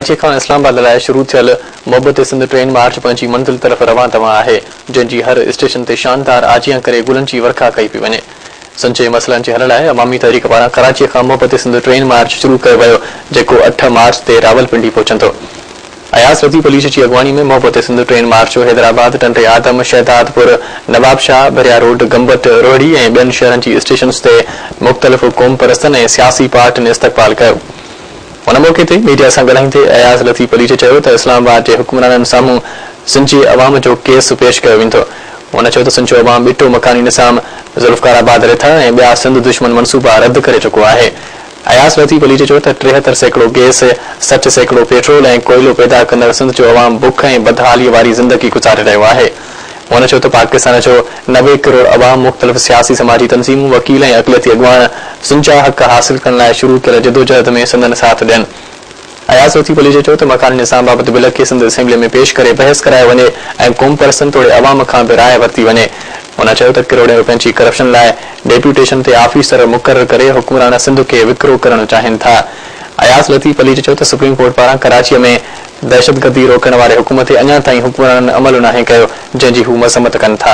ڪراچي کان اسلام آباد لاء شروع ٿيل محبت سنڌ ٽرين مارچ پنهنجي منزل طرف روان دوان آهي، جنهن جي هر اسٽيشن تي شاندار آجيان ڪري گلن جي ورکا ڪئي پئي وڃي. سنڌ جي مسئلن جي حل لاء عوامي تحريڪ پاران ڪراچي کان محبت سنڌ ٽرين مارچ شروع ڪيو ويو، جيڪو اٺ مارچ تي راولپنڊي پهچندو. اياز لطيف عليش جي اڳواڻي ۾ محبت Sindh train march Hyderabad, Tando Adam, Shahdadpur, Nawabshah, Bhiria road, Gambat, Rohri ۽ ٻين شهرن جي اسٽيشنز تي مختلف قومپرستن ۽ سياسي پارٽين استقبال ڪيو. ان موقعي تي ميڊيا سان ڳالهائيندي اياز لطيف عليجي چيو ته اسلام آباد جي حڪمرانن سامهون سنجي عوام جو ڪيس پيش ڪيو ويندو. هن چيو ته سنجو عوام ٻٽو مڪاني نظام، ذوالفقار آباد رٿا ۽ ٻيا سنڌ دشمن منصوبا رد ڪري چڪو آهي. اياز لطيف عليجي چيو ته ٽيهتر سيڪڙو گيس، سٺ سيڪڙو پيٽرول ۽ ڪوئلو پيدا ڪندڙ سنڌ جو عوام بک ۽ بدحالي واري زندگي گذاري رهيو آهي. هن چيو ته پاڪستان جو نوي ڪروڙ عوام مختلف سياسي سماجي تنظيمون، وڪيل ۽ اقليتي اڳواڻ سنجا حق حاصل ڪرڻ لاء شروع ڪيل جدوجهد ۾ سندن ساٿ ڏين. اياز لطيف پليجي چيو ته مڪاني نظام بابت بل کي سنڌ اسيمبلي ۾ پيش ڪري بحث ڪرايو وڃي ۽ قومپرستن توڙي عوام کان به راء ورتي وڃي. هن چيو ته ڪروڙين روپين جي ڪرپشن لاء ڊيپوٽيشن تي آفيسر مقرر ڪري حڪمران سنڌ کي وڪرو ڪرڻ چاهين ٿا. اياز لطيف پليجي چيو ته سپريم ڪورٽ پاران ڪراچي ۾ دهشتگردي روڪڻ واري حڪم تي اڃا تائين حڪمرانن عمل ناهي ڪيو، جنهن جي هو مذمت ڪن ٿا.